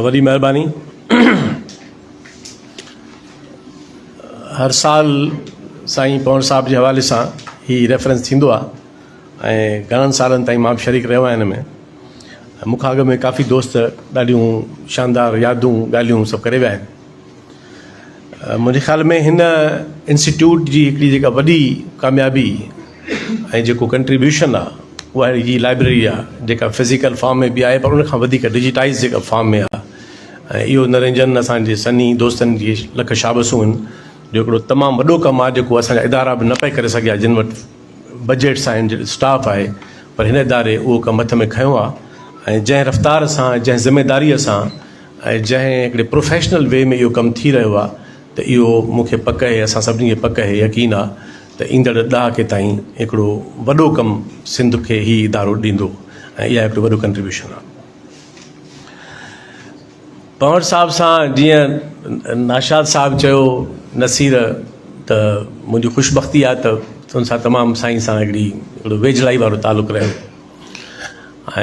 وڏي مهرباني هر سال سائين پوڻ صاحب جي حوالي سان هي ريفرنس ٿيندو آهي ۽ گهڻن سالن تائين مان به شريڪ رهيو آهيان هن ۾ مون کان اڳ ۾ ڪافي دوست ڏاڍيون شاندار يادون ڳالهيون سڀ ڪري ويا آهن منهنجي خيال ۾ هن انسٽيٽيوٽ جي هڪڙي جيڪا وڏي ڪاميابي ۽ جيڪو ڪنٽريبيوشن آ اها اهڙي جي لائبريري آ جيڪا فزيڪل فارم ۾ به آهي پر ان کان وڌيڪ ڊجيٽائز جيڪا فارم ۾ آ ۽ اهو نرنجن اسان جي سني دوستن جي لک شابسون آهن جو هڪڙو تمام وڏو ڪم آ جيڪو اسان جا ادارا به نه پئي ڪري سگهيا جن وٽ بجيٽس آهن جن اسٽاف آهي پر هن اداري اهو ڪم هٿ ۾ کنيو آ ۽ جنهن رفتار سان جنهن ذميداري سان ۽ جنهن هڪڙي پروفيشنل وي ۾ اهو ڪم ٿي رهيو آ ته اهو مون کي پڪ اهي اسان سڀني کي پڪ اهي يقين آ ته ايندڙ ڏهاڪي تائين هڪڙو وڏو ڪم سنڌ کي هي ادارو ڏيندو ۽ اها هڪڙو وڏو ڪنٽريبيوشن آهي. پنهور صاحب سان جيئن ناشاد صاحب چيو نصير ته منهنجي خوشبختي آهي ته ان سان تمام سائين سان هڪڙي هڪڙو ويجهڙائي وارو تعلق رهيو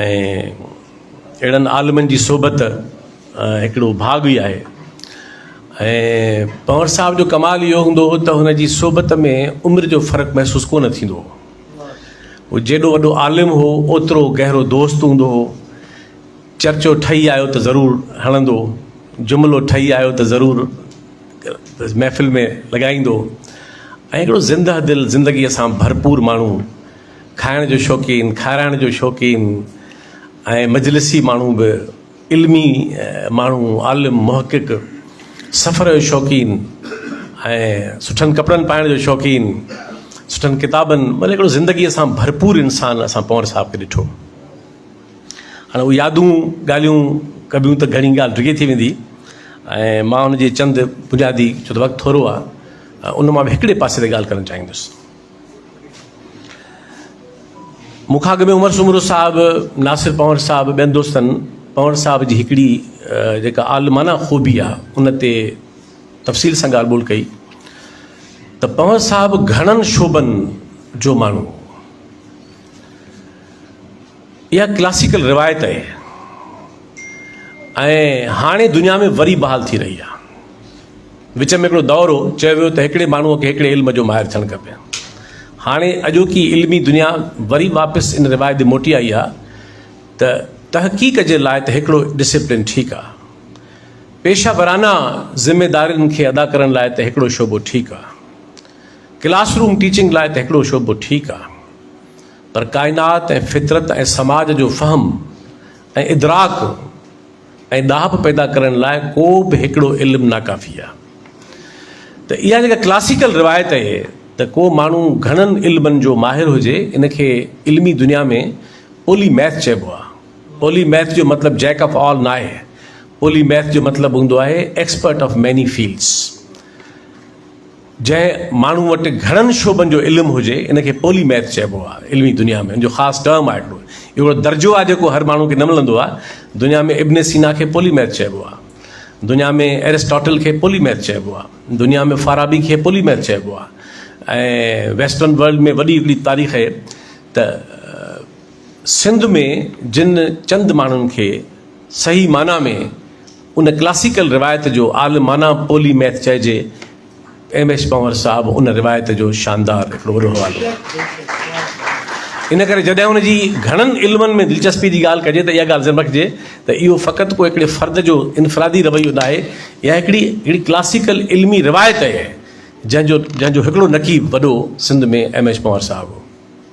۽ اهڙن عالمن جي صحبت هڪڙو ڀاڳ ئي آهي ۽ پنور صاحب جو ڪمال اهو هوندو هو ته هن جي صحبت ۾ عمر جو فرق محسوس ڪونه ٿيندو هو هو جيڏو وڏو عالم هو اوترو گهرو دوست هوندو هو چرچو ٺهي آيو ته ضرور هڻندو جملو ٺهي آيو ته ضرور محفل ۾ لڳائيندو ۽ هڪڙو زنده دل زندگيء سان ڀرپور ماڻهو کائڻ جو شوقين کارائڻ جو شوقين ۽ مجلسي ماڻهو به علمي ماڻهو، عالم، محقق، سفر جو شوقين ۽ سٺن ڪپڙن پائڻ جو شوقين، سٺن ڪتابن مطلب هڪڙو زندگي سان ڀرپور انسان اسان پنور صاحب کي ڏٺو. هاڻي اهي يادون ڳالهيون ڪبيون ته گهڻي ڳالهه ڊگهي ٿي ويندي ۽ مان ان جي چند بنيادي ڇو ته وقت ٿورو آهي ان مان به هڪڙي پاسي تي ڳالهه ڪرڻ چاهيندس. مون کان اڳ ۾ عمر سومرو صاحب، ناصر پنهور صاحب، ٻين دوستن پنهور صاحب جي هڪڙي جيڪا عالمانه خوبي آ ان تي تفصيل سان ڳالهه ٻولهه ڪئي ته پنهور صاحب گهڻن شعبن جو ماڻهو هو. اها ڪلاسيڪل روايت آهي ۽ هاڻي دنيا ۾ وري بحال ٿي رهي آهي. وچ ۾ هڪڙو دور هو، چيو ويو ته هڪڙي ماڻهوء کي هڪڙي علم جو ماهر ٿيڻ کپي. هاڻي اڄوڪي علمي دنيا وري واپس ان روايت ڏي موٽي آئي آهي ته تحقيق جي لاء ته هڪڙو ڊسپلين ٺيڪ آهي. پيشه ورانه ذميدارين کي ادا ڪرڻ لاء ته هڪڙو شعبو ٺيڪ آهي. ڪلاس روم ٽيچنگ لاء ته هڪڙو شعبو ٺيڪ آهي. پر ڪائنات ۽ فطرت ۽ سماج جو فهم ۽ ادراڪ ۽ ڏاهپ پيدا ڪرڻ لاء ڪو به هڪڙو علم ناڪافي آهي ته اها جيڪا ڪلاسيڪل روايت اهي ته ڪو ماڻهو گهڻن علمن جو ماهر هجي ان کي علمي دنيا ۾ پولي ميٿ چئبو آهي پولي ميٿ جو مطلب جيڪ آف آل ناهي پولي ميٿ جو مطلب هوندو آهي ايڪسپرٽ آف ميني فيلڊس. جنهن ماڻهو وٽ گهڻن شعبن جو علم هجي ان کي پولي ميٿ چئبو آهي علمي دنيا ۾ ان جو خاص ٽرم آهي هڪڙو اهڙو درجو آهي جيڪو هر ماڻهو کي نه ملندو آهي دنيا ۾ ابن سينا کي پولي ميٿ چئبو آهي دنيا ۾ ارسٽاٽل کي پولي ميٿ چئبو آهي دنيا ۾ فارابي کي پولي ميٿ چئبو آهي ۽ ويسٽرن ورلڊ ۾ وڏي هڪڙي تاريخ آهي ته سنڌ ۾ جن چند ماڻهن کي صحيح معنيٰ ۾ ان ڪلاسيڪل روايت جو عالمانه پولي ميٿ چئجي، ايم ايڇ پنور صاحب ان روايت جو شاندار هڪڙو وڏو حوالو آهي. ان ڪري جڏهن ان جي گهڻن علمن ۾ دلچسپي جي ڳالهه ڪجي ته اها ڳالهه ذهن ۾ رکجي ته اهو فقط ڪو هڪڙي فرد جو انفرادي رويو ناهي يا هڪڙي هڪڙي ڪلاسيڪل علمي روايت آهي جنهن جو جنهن جو هڪڙو نقيب وڏو سنڌ ۾ ايم ايڇ پنور صاحب هو.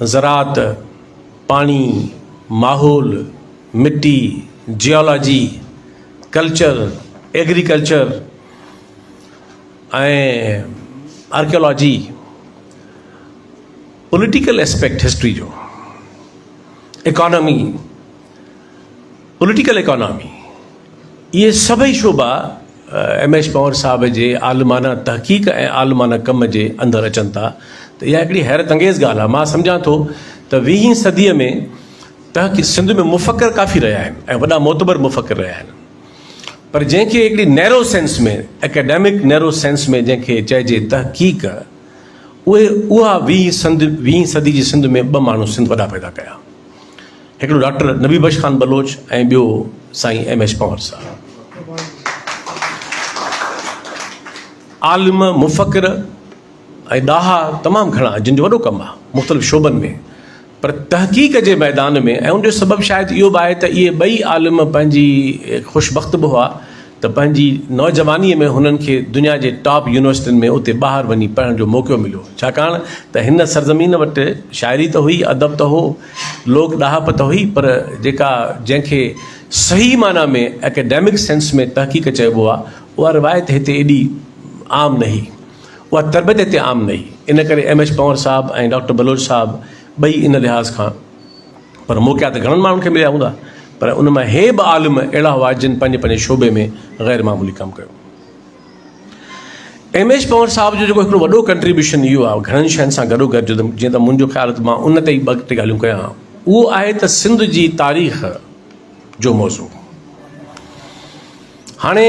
زراعت، پاڻي، ماحول، مٽي، geology, culture, agriculture ۽ archaeology, political aspect history جو، اڪانامي، پوليٽيڪل ايڪانامي، اهي سڀئي شعبا ايم ايڇ پنهور صاحب جي عالمانه تحقيق ۽ عالمانه ڪم جي اندر اچن ٿا ته اها هڪڙي حيرت انگيز ڳالهه آهي. مان سمجهان ٿو ته ويهين صديء ۾ تحقيق سنڌ ۾ مفڪر ڪافي رهيا آهن ۽ وڏا معتبر مفڪر رهيا آهن پر جنهن کي هڪڙي narrow sense ۾ academic narrow sense ۾ جنهن کي چئجي تحقيق اهي اها ويهين صدي جي سنڌ ۾ ٻه ماڻهو سنڌ وڏا پيدا ڪيا. هڪڙو ڊاڪٽر نبي بخش خان بلوچ ۽ ٻيو سائين ايم ايڇ پنور صاحب عالم مفڪر ۽ ڏاها تمام گهڻا جن جو وڏو ڪم آهي مختلف شعبن ۾ پر تحقيق جي ميدان ۾ ۽ ان جو سبب شايد اهو به آهي ته اهي ٻئي عالم پنهنجي خوش بخت به هئا ته پنهنجي نوجوانيء ۾ هنن کي دنيا جي ٽاپ يونيورسٽين ۾ اتي ٻاهر وڃي پڙهڻ جو موقعو مليو، ڇاڪاڻ ته هن سرزمين وٽ شاعري ته هئي، ادب ته هو، لوڪ ڏاهپ ته هئي، پر جيڪا جنهن کي صحيح معنيٰ ۾ اڪيڊمڪ سينس ۾ تحقيق چئبو آهي، اها روايت هتي ايڏي عام نه هئي. اها تربيت هتي عام نه هئي. ان ڪري ايم ايڇ پنور صاحب ۽ ڊاڪٽر بلوچ صاحب ٻئي ان لحاظ کان. پر موقعا ته گهڻن ماڻهن کي مليا هوندا پر ان مان هي به عالم اهڙا هئا جن پنهنجي پنهنجي شعبي ۾ غير معمولي ڪم ڪيو. ايم ايڇ پنور صاحب جو جيڪو هڪڙو وڏو ڪنٽريبيوشن اهو آهي گهڻن شين سان گڏو گڏ جيئن ته منهنجو خيال ته مان ان تي ئي ٻه ٽي ڳالهيون ڪيان اهو آهي ته سنڌ جي تاريخ جو موضوع هاڻي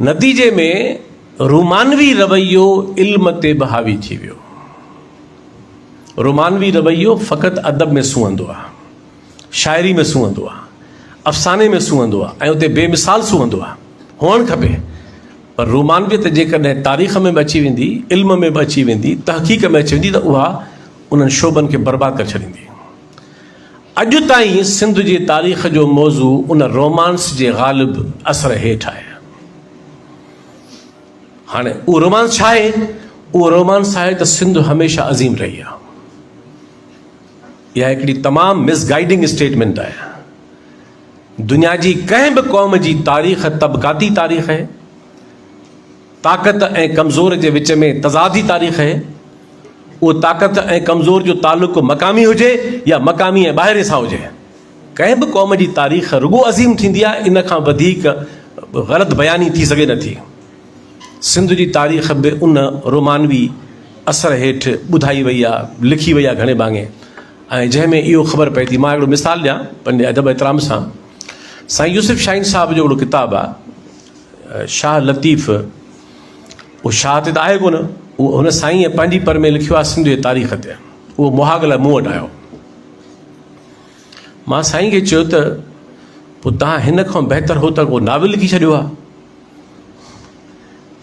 نتيجي ۾ رومانوي رويو علم تي به حاوي ٿي ويو. رومانوي رويو فقط ادب ۾ سونهندو آهي، شاعري ۾ سونهندو آهي، افساني ۾ سونهندو آهي ۽ اتي بي مثال سونهندو آهي. هئڻ کپي پر رومانويت جيڪڏهن تاريخ ۾ به اچي ويندي، علم ۾ به اچي ويندي، تحقيق ۾ اچي ويندي ته اها انهن شعبن کي برباد ڪري ڇڏيندي. اڄ تائين سنڌ جي تاريخ جو موضوع ان رومانس جي غالب اثر هيٺ آهي. هاڻي اهو رومانس ڇا آهي؟ اهو رومانس آهي ته سنڌ هميشه عظيم رهي آهي. اها هڪڙي تمام مس گائيڊنگ اسٽيٽمنٽ آهي. دنيا جي ڪنهن به قوم جي تاريخ طبقاتي تاريخ آهي. طاقت ۽ ڪمزور جي وچ ۾ تضاد ئي تاريخ اهي. اهو طاقت ۽ ڪمزور جو تعلق مقامي هجي يا مقامي ۽ ٻاهرين سان هجي. ڪنهن به قوم جي تاريخ رڳو عظيم ٿيندي آهي ان کان وڌيڪ غلط بياني ٿي سگهي نه ٿي. سنڌ جي تاريخ به ان رومانوي اثر هيٺ ٻڌائي وئي آهي، لکي وئي آهي گهڻي ڀاڱي ۽ جنهن ۾ اهو خبر پئي ٿي. مان هڪڙو مثال ڏيان پنهنجي ادب احترام سان سائين يوسف شاهين صاحب جو هڪڙو ڪتاب آهي. شاهه لطيف اهو شاهه تي ته آهي ڪونه، اهو هن سائينء پنهنجي پر ۾ لکيو آهي سنڌ جي تاريخ تي. اهو مهاڳ لاء مون وٽ آيو. مان سائين کي چيو ته پوء توهان هن کان بهتر هو ته ڪو ناول لکي ڇڏيو ها.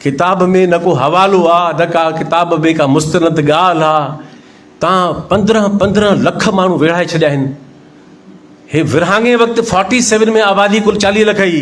ڪتاب ۾ نه ڪو حوالو آ، نه ڪا ڪتاب ۾ ڪا مستند ڳالهه آ. توهان پندرهن پندرهن لک ماڻهو ويڙهائي ڇڏيا آهن. هي ورهاڱي وقت فورٽي سيون ۾ آبادي ڪل چاليهه لک هئي.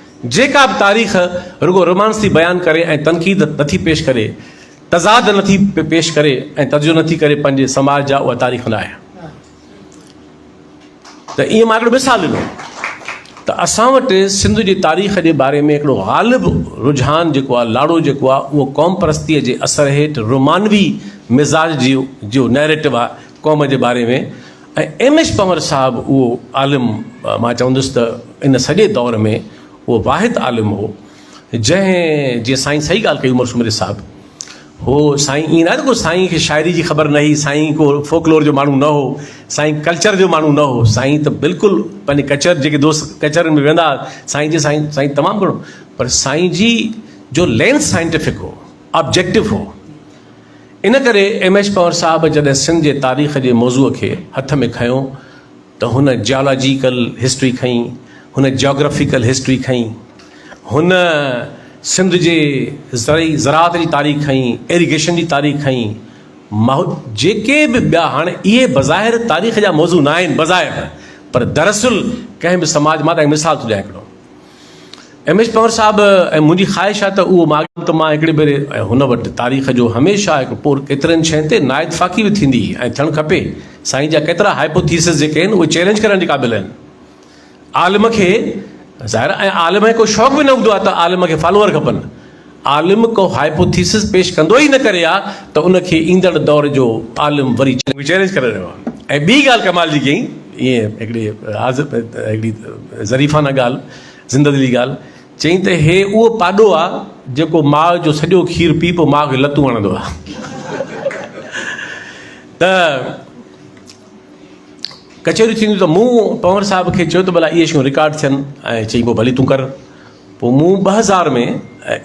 جيڪا به تاريخ رڳو رومانس ٿي بيان ڪري ۽ تنقيد نٿي پيش ڪري، تضاد نٿي پيش ڪري ۽ تجزيو نٿي ڪري پنهنجي سماج جا اها تاريخ نه آهي. ته ائين مان هڪڙو مثال ڏنو ته اسان وٽ سنڌ جي تاريخ جي باري ۾ هڪڙو غالب رجحان جيڪو آهي لاڙو جيڪو آهي اهو قوم پرستيء جي اثر هيٺ رومانوي مزاج جي جو نئريٽو آهي قوم جي باري ۾ ۽ ايم ايڇ پنور صاحب اهو عالم مان چوندس ته ان سڄي دور ۾ اهو واحد عالم هو جنهن جيئن سائين صحيح ڳالهه ڪئي عمر سومري صاحب هو سائين ائين نه آهي ته ڪو سائين کي شاعري جي خبر نه هئي سائين ڪو فوڪلور جو ماڻهو نه هو سائين ڪلچر جو ماڻهو نه هو سائين ته بلڪل پنهنجي ڪچهر جيڪي دوست ڪچهرين ۾ ويهندا هئا سائين جي سائين سائين تمام گهڻو پر سائين جي جو لينس سائنٽيفڪ هو آبجيڪٽو هو ان ڪري ايم ايڇ پنور صاحب جڏهن سنڌ جي تاريخ جي موضوع کي هٿ ۾ کنيو ته هن جيالاجيڪل هسٽري کنئي، هن جاگرافيڪل هسٽري کنئي، هن سنڌ جي زرعي زراعت جي تاريخ کنئي، ايريگيشن جي تاريخ کنئي، ماحو جيڪي به ٻيا هاڻي اهي بظاهر تاريخ جا موضوع نه آهن بظاهر پر دراصل ڪنهن به سماج مان تان مثال ٿو ڏيان هڪڙو. ايم ايڇ پنور صاحب ۽ منهنجي خواهش آهي ته اهو ماڳ ته مان هڪڙي ڀيري ۽ هن وٽ تاريخ جو هميشه هڪ پور ڪيترن شين تي نااتفاقي به ٿيندي ۽ ٿيڻ کپي سائين جا ڪيترا هائپوٿيسز جيڪي آهن اهي چيلينج ڪرڻ جي قابل آهن عالم کي ظاهر ۽ عالم کي ڪو شوق به نه هوندو آهي ته عالم کي فالوور کپن عالم ڪو هائپوٿيسس پيش ڪندو ئي نه ڪري ها ته ان کي ايندڙ دور جو عالم وري چئلينج ڪري رهيو آهي ۽ ٻي ڳالهه ڪمال جي ڪئي ايئن هڪڙي حاضر هڪڙي ظريفانه ڳالهه زنده دلي ڳالهه چئي ته هي اهو پاڏو آ جيڪو ماء جو سڄو کير پي پوء ماء کي لتون هڻندو آ ته ڪچهريون ٿينديون ته مون پنور صاحب کي چيو ته ڀلا اهي شيون رڪارڊ ٿين ۽ چئي پوء ڀلي تون ڪر پوء مون ٻه هزار ۾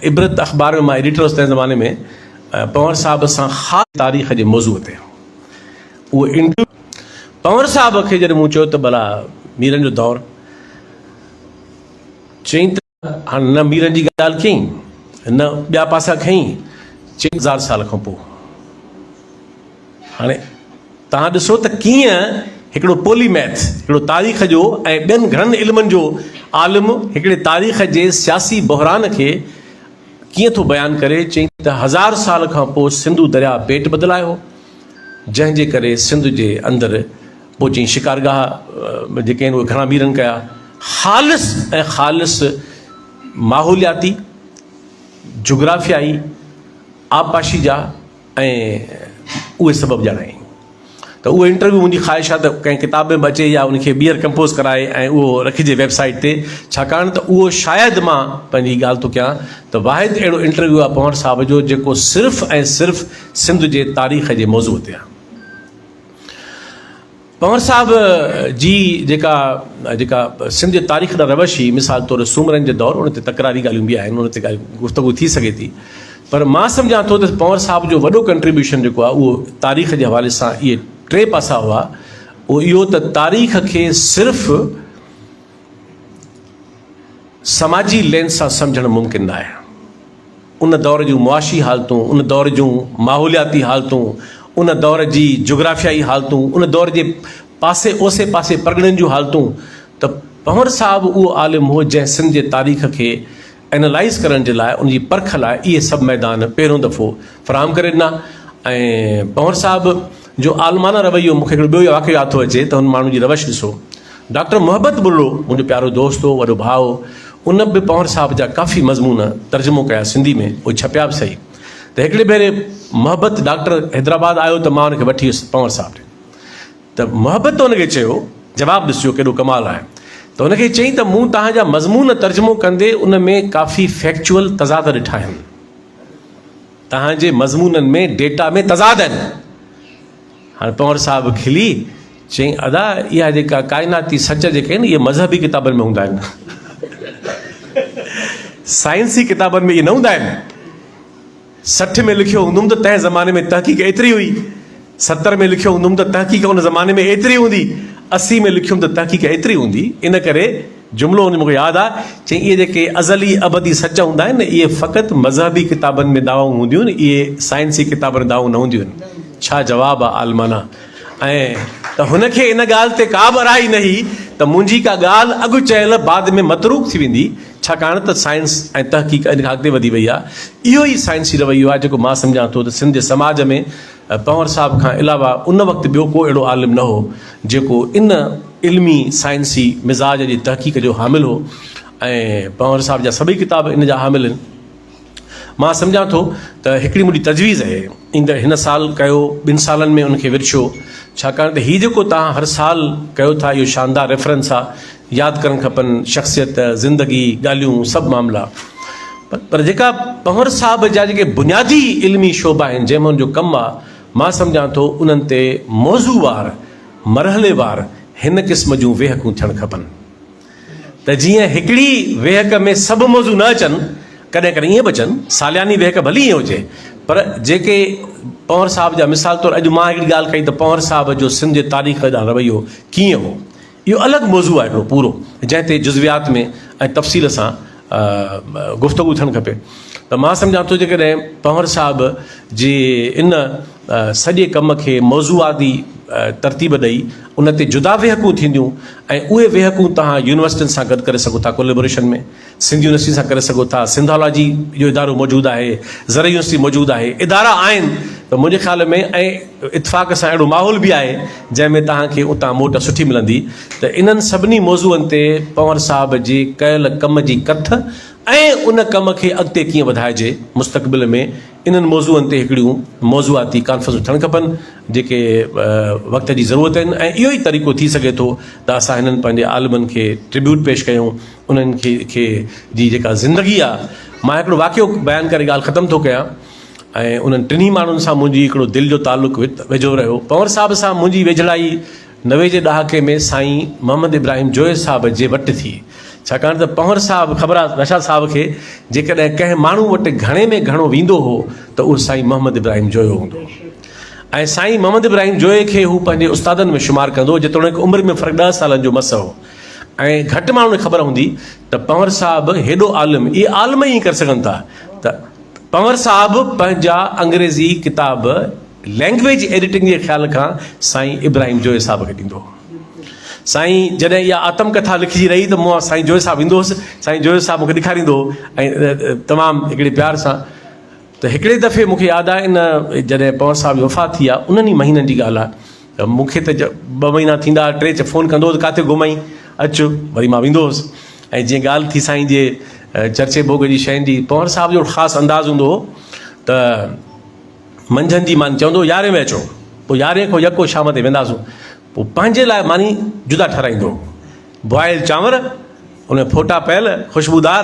عبرت اخبار ۾ مان ايڊيٽر هوس تنهن زماني ۾ پنور صاحب سان خاص تاريخ جي موضوع تي اهو انٽرويو پنور صاحب کي جڏهن مون چيو ته ڀلا ميرن جو دور چئين ته هاڻ نه ميرن جي ڳالهه ڪيئين نه ٻيا پاسا کنئين چئين هزار سال کان پوء. هاڻي توهان ڏسو ته ڪيئن هڪڙو پولي ميٿ، هڪڙو تاريخ جو ۽ ٻين گهڻن علمن جو عالم هڪڙي تاريخ جي سياسي بحران کي ڪيئن ٿو بيان ڪري، چئي ته هزار سال کان پوء سنڌو درياء پيٽ بدلائي هو، جنهن جي ڪري سنڌ جي اندر پوء چئي شڪارگاهه جيڪي آهن اهي گهڻا ميرن ڪيا، خالص ۽ خالص ماحولياتي، جغرافيائي، آبپاشي جا. ۽ اهي سبب ڄاڻائين ته اهو انٽرويو منهنجي خواهش آهي ته ڪنهن ڪتاب ۾ به اچي يا ان کي ٻيهر ڪمپوز ڪرائي ۽ اهو رکجي ويب سائيٽ تي ڇاڪاڻ ته اهو شايد مان پنهنجي ڳالهه ٿو ڪيان ته واحد اهڙو انٽرويو آهي پنور صاحب جو جيڪو صرف ۽ صرف سنڌ جي تاريخ جي موضوع تي آهي. پنور صاحب جي جيڪا جيڪا سنڌ جي تاريخ ڏانهن روش هئي، مثال طور سومرن جي دور، ان تي تڪراري ڳالهيون به آهن، ان تي ڳالهه گفتگو ٿي سگهي ٿي. پر مان سمجهان ٿو ته پنور صاحب جو وڏو ڪنٽريبيوشن جيڪو آهي اهو تاريخ جي حوالي سان اهي ٽي پاسا هئا، اهو اهو ته تاريخ کي صرف سماجي لينس سان سمجهڻ ممڪن نه آهي. ان دور جون معاشي حالتون، ان دور جون ماحولياتي حالتون، ان دور جي جغرافيائي حالتون، ان دور جي پاسي اوسي پاسي پرڳڻن جون حالتون ته پنور صاحب اهو عالم هو جنهن سنڌ جي تاريخ کي اينالائيز ڪرڻ جي لاء ان جي پرک لاء اهي سڀ ميدان پهريون دفعو فراهم ڪري ڏنا ۽ پنور صاحب جو عالمانه رويو مون کي هڪڙو ٻيو واقعو ياد ٿو اچي ته هن ماڻهو جي روش ڏسو ڊاڪٽر محبت بلڙو منهنجو پيارو دوست هو وڏو ڀاء هو ان به پنور صاحب جا ڪافي مضمون ترجمو ڪيا سنڌي ۾ اهي ڇپيا به صحيح ته هڪڙي ڀيري محبت ڊاڪٽر حيدرآباد آيو ته مان ان کي وٺي ويس پنور صاحب ڏي ته محبت ان کي چيو، جواب ڏسجو ڪيڏو ڪمال آهي، ته ان کي چيائين ته مون توهان جا مضمون ترجمو ڪندي ان ۾ ڪافي فيڪچوئل تضاد ڏٺا آهن. توهان جي مضمونن ۾ ڊيٽا ۾ تضاد آهن. هاڻ پنهور صاحب کلي چيائين ادا اها جيڪا ڪائناتي سچ جيڪي آهن اهي مذهبي ڪتابن ۾ هوندا آهن. سائنسي ڪتابن ۾ اهي نه هوندا آهن. سٺ ۾ لکيو هوندم ته تنهن زماني ۾ تحقيق ايتري هئي، ستر ۾ لکيو هوندم ته تحقيق ان زماني ۾ ايتري هوندي، اسي ۾ لکيم ته تحقيق ايتري هوندي، ان ڪري جملو ان جو مون کي ياد آ، چيائين اهي جيڪي ازلي ابدي سچ هوندا آهن نه اهي فقط مذهبي ڪتابن ۾ دعوائون هونديون آهن، اهي سائنسي ڪتابن ۾ دعوائون نه هونديون آهن. ڇا جواب آ عالمانه. ائين ته هن کي ان ڳالهه تي ڪا به اراعي نه هئي ته منهنجي ڪا ڳالهه اڳ چيل بعد ۾ متروڪ ٿي ويندي، ڇاڪاڻ ته سائنس ۽ تحقيق ان کان اڳتي وڌي وئي آهي. اهو ئي سائنسي رويو آهي جيڪو مان سمجهان ٿو ته سنڌ جي سماج ۾ پنور صاحب کان علاوه ان وقت ٻيو ڪو اهڙو عالم نه هو جيڪو ان علمي سائنسي مزاج جي تحقيق جو حامل هو ۽ پنور صاحب جا سڀئي ڪتاب ان جا حامل آهن. مان سمجهان ٿو ته هڪڙي منهنجي تجويز اهي ايندڙ هن سال ڪيو ٻن سالن ۾ ان کي ورڇو ڇاڪاڻ ته هي جيڪو توهان هر سال ڪيو ٿا اهو شاندار ريفرنس آ ياد ڪرڻ کپن شخصيت زندگي ڳالهيون سڀ معاملا پر جيڪا پنور صاحب جا جيڪي بنيادي علمي شعبا آهن جنهن ۾ ان جو ڪم آ مان سمجهان ٿو انهن تي موضوع وار مرحلي وار هن قسم جون ويهڪون ٿيڻ کپن ته جيئن هڪڙي ويهڪ ۾ سڀ موضوع نه اچن، ڪڏهن ڪڏهن ائين به اچن، سالياني ويهڪ ڀلي ائين هجي، پر جيڪي پنهور صاحب جا مثال طور اڄ مان هڪڙي ڳالهه ڪئي ته پنهور صاحب جو سنڌ جي تاريخ ڏانهن رويو ڪيئن هو، اهو الڳ موضوع آهي هڪڙو پورو، جنهن تي جزويات ۾ ۽ تفصيل سان گفتگو ٿيڻ کپي ته مان سمجهان ٿو جيڪڏهن پنهور صاحب جي ان سڄي ڪم کي موضوعاتي ترتيب ڏئي ان تي جدا ويهڪون ٿينديون ۽ اهي ويهڪون توهان يونيورسٽين سان گڏ ڪري سگهو ٿا ڪوليبوريشن ۾ سنڌ يونيورسٽي سان ڪري سگهو ٿا سنڌالاجي جو ادارو موجود آهي زرعي يونيورسٽي موجود آهي ادارا آهن ته منهنجي خيال ۾ ۽ اتفاق سان اهڙو ماحول به آهي جنهن ۾ توهان کي اتان موٽ سٺي ملندي ته انهن سڀني موضوعن تي پنور صاحب جي ڪيل ڪم جي ڪٿ ۽ ان ڪم کي اڳتي ڪيئن وڌائجي مستقبل ۾ انهن موضوعن تي هڪڙيون موضوعاتي ڪانفرنسون ٿيڻ کپن جيڪي وقت جي ضرورت آهن ۽ اهو ئي طريقو ٿي سگهي ٿو ته اسان هنن پنهنجي عالمن کي ٽربيوٽ پيش ڪيون انهن کي جي جيڪا زندگي آهي مان هڪڙو واقعو بيان ڪري ڳالهه ختم ٿو ڪيان. ۽ انهن ٽنهي ماڻهن سان منهنجي هڪڙو دل جو تعلق ويجهو رهيو. پنور صاحب سان منهنجي ويجهڙائي نوي جي ڏهاڪي ۾ سائين محمد ابراهيم جويي صاحب جي وٽ ٿي. ڇاڪاڻ ته پنور صاحب خبر آ رشاد صاحب کي جيڪڏهن ڪنهن ماڻهو وٽ گهڻي ۾ گهڻو ويندو هو ته اهو سائين محمد ابراهيم جويو هوندو هو ۽ سائين محمد ابراهيم جويي کي هو پنهنجي استادن ۾ شمار ڪندو هو جيتوڻيڪ عمر ۾ فرق ڏهه سالن جو مس هو ۽ گهٽ ماڻهن کي خبر هوندي ته پنور صاحب هيڏو عالم اهي عالم ئي ائين ڪري سگهن ٿا ته پنور صاحب پنهنجا انگريزي ڪتاب لينگويج ايڊيٽنگ جي خيال کان سائين ابراهيم جويي صاحب کي ڏيندو هو. سائين جڏهن اها آتم ڪٿا لکجي رهي ته مون وٽ سائين جويي صاحب ايندو هوس. سائين جويي صاحب مون کي ڏيکاريندو هو ۽ تمام هڪڙي پيار سان ته هڪڙي دفعي مون کي ياد آهي ان جڏهن پنور صاحب جي وفات ٿي آهي انهن ئي مهينن جي ڳالهه آهي مون کي ته ٻه مهينا ٿيندا ها، ٽي فون ڪندو هو ته ڪاٿي گم آهين، اچ، وري مان ويندو هوس ۽ جيئن ڳالهه ٿي سائين جي چرچي ڀوڳ جي شين جي، پنهور صاحب جو خاص انداز هوندو هو ته منجهند جي ماني چوندو هو يارهين بجي اچو، پوء يارهين کان يڪو شام تائين وينداسون، پوء پنهنجي لاء ماني جدا ٺهرائيندو هو، بوائل چانور، ان ۾ ڦوٽا پيل، خوشبودار،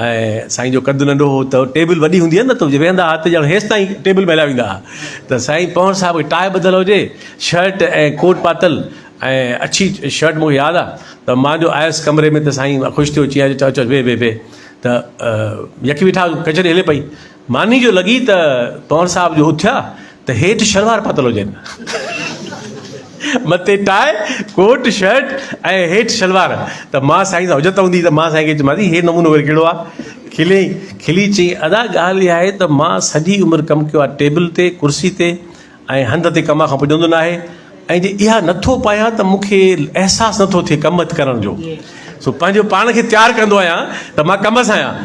۽ سائين جو قد ننڍو هو ته ٽيبل وڏي هوندي هئي نه ته ويهندا هئا ته ڄڻ هيس تائين ٽيبل ۾ هليا ويندا هئا ته سائين پنهور صاحب کي ٽاء ٻڌل هجي شرٽ ۽ ڪوٽ پاتل ۽ اڇي شرٽ مون کي ياد آ ته مان جو آيس ڪمري ۾ ته سائين خوش ٿيو چيائين اچ اچ ويهه ويهه ويهه ته يڪي ويٺا ڪچهري هلي پئي ماني جو لڳي ته پنور صاحب جو اٿيا ته هيٺ شلوار پاتل هجن مٿي ٽاء ڪوٽ شرٽ ۽ هيٺ شلوار ته مان سائين سان حجت هوندي ته مان سائين کي چيم سائين هي نمونو وري ڪهڙو آ کلي کلي چي ادا ڳالهه اها آهي ته مان سڄي عمر ڪم ڪيو آ ٽيبل تي ڪرسي تي ۽ هنڌ تي ڪم کان پڄندو ناهي ۽ جي اها نٿو پايان ته مون کي احساس نٿو ٿئي ڪم ڪرڻ جو سو پنهنجو پاڻ کي تيار ڪندو آهيان ته مان ڪم سان آهيان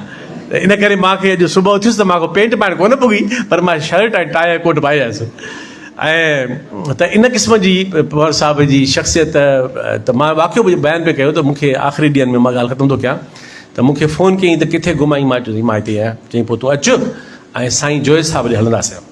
ته ان ڪري مان کي اڄ صبح اٿيس ته مان کي پينٽ پائڻ ڪونه پڳي پر مان شرٽ ۽ ٽائي ۽ ڪوٽ پائي آيس ۽ ته ان قسم جي پنهور صاحب جي شخصيت ته مان واقعو بيان پئي ڪيو ته مون کي آخري ڏينهن ۾ مان ڳالهه ختم ٿو ڪيان ته مون کي فون ڪيائين ته ڪٿي گم آهين مان چيس مان هتي آهيان چيائين پوء تون اچ ۽ سائين جويي صاحب ڏي هلنداسين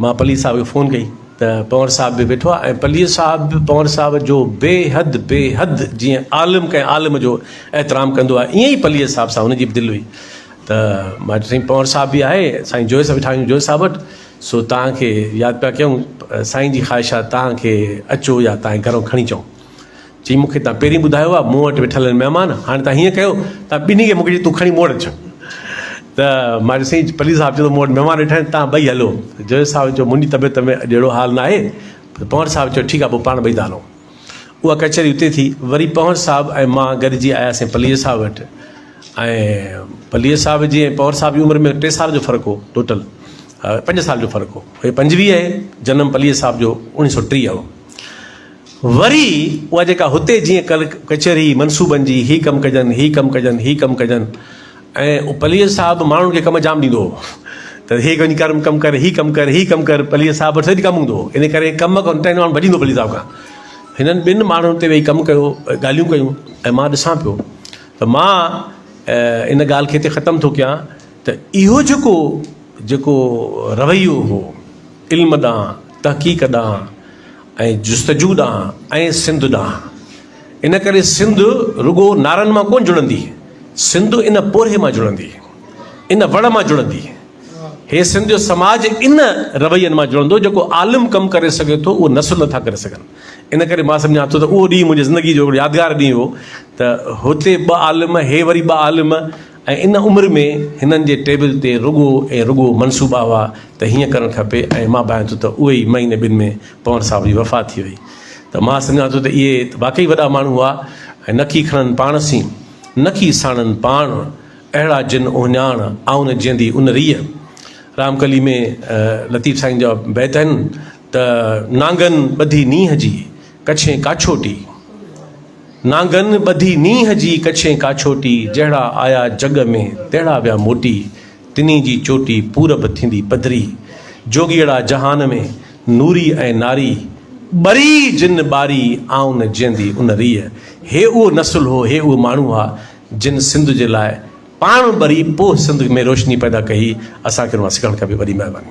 مان پليجي صاحب کي فون ڪئي ته پنور صاحب به ويٺو آهي ۽ پليجي صاحب به پنور صاحب جو بيحد بيحد جيئن عالم ڪنهن عالم جو احترام ڪندو آهي ائين ئي پليجي صاحب سان هن جي به دل هئي ته مان چيو سائين پنور صاحب به آهي سائين جويي صاحب ويٺا آهيون جويي صاحب وٽ سو توهان کي ياد پيا ڪيون سائين جي خواهش آهي توهان کي اچو يا توهان کي گهرو کڻي اچون چيائين، مون کي تان پهرين ٻڌايو هو، مون وٽ ويٺل آهن مهمان، هاڻي تان هيئن ڪيو، تان ٻنهي کي موڪلي تون کڻي مون وٽ اچ. ته مان چيس، سائين پليجي صاحب چيو ته مون وٽ مهمان ويٺا آهن، تان ٻئي هلو. جويس صاحب چيو، منهنجي طبيعت ۾ اڄ اهڙو حال ناهي. پنهور صاحب چيو، ٺيڪ آهي، پوء پاڻ ٻئي ٿا هلون. اها ڪچهري اتي ٿي. وري پنهور صاحب ۽ مان گڏجي آياسين پليجي صاحب وٽ ۽ پليجي صاحب جي ۽ پنهور صاحب جي عمر ۾ ٽي سال جو فرق هو، ٽوٽل پنج سال جو فرق هو. هي پنجويهه جنم پليجي صاحب جو اڻيهه سؤ ٽيهه هو. وري اها جيڪا هتي جيئن ڪل ڪچهري هئي منصوبن جي، هي ڪم ڪجن، هي ڪم ڪجن، هي ڪم ڪجن ۽ پليجي صاحب ماڻهن کي ڪم جام ڏيندو هو ته هي وڃي ڪر ڪم ڪر، هي ڪم ڪر، هي ڪم ڪر، پليجي صاحب وٽ سڀ ڪم هوندو هو ان ڪري ڪم ڪن ٽن ماڻهن ڀڄندو پليجي صاحب کان هنن ٻن ماڻهن اتي ويهي ڪم ڪيو ڳالهيون ڪيون ۽ مان ڏسان پيو ته مان ان ڳالهه کي هتي ختم ٿو ڪيان ته اهو جيڪو جيڪو رويو هو علم ڏانهن تحقيق ڏانهن ۽ جستجو ڏانهن ۽ سنڌ ڏانهن. ان ڪري سنڌ رڳو نعرن مان ڪونه جڙندي، سنڌ ان پورهيي مان جڙندي، ان وڙ مان جڙندي. هي سنڌ جو سماج ان روين مان جڙندو جيڪو عالم ڪم ڪري سگهي ٿو اهو نثر نٿا ڪري سگهن. ان ڪري مان سمجهان ٿو ته اهو ڏينهن منهنجي زندگي جو هڪڙو يادگار ڏينهن هو ته هتي ٻه عالم هي وري ٻه عالم ۽ ان عمر ۾ هنن جي ٽيبل تي رڳو ۽ رڳو منصوبا هئا ته هيئن ڪرڻ کپي ۽ مان ڀانئين ٿو ته اهي ئي مهيني ٻن ۾ پنور صاحب جي وفات ٿي وئي ته مان سمجهان ٿو ته اهي واقعي وڏا ماڻهو هئا ۽ نڪي کڻن پاڻ سين نڪي ساڻن پاڻ اهڙا جن اهڃاڻ آئون جيندي ان ريء رام ڪلي ۾ لطيف سائين جا بيت آهن ته نانگن ٻڌي نينهن جي ڪڇين ڪاڇوٽي، نانگن ٻڌي نينهن جي ڪڇين ڪاڇوٽي، جهڙا آيا جڳ ۾، تهڙا ويا موٽي، تنهين جي چوٽي پورب ٿيندي پڌري، جوڳيئڙا جهان ۾، نوري ۽ ناري، ٻري جن ٻاري، آئون جيئندي ان ريء، هي اهو نسل هو، هي اهي ماڻهو هئا، جن سنڌ جي لاء پاڻ ٻري، پوء سنڌ ۾ روشني پيدا ڪئي، اسان کي ان مان سکڻ کپي، وڏي مهرباني.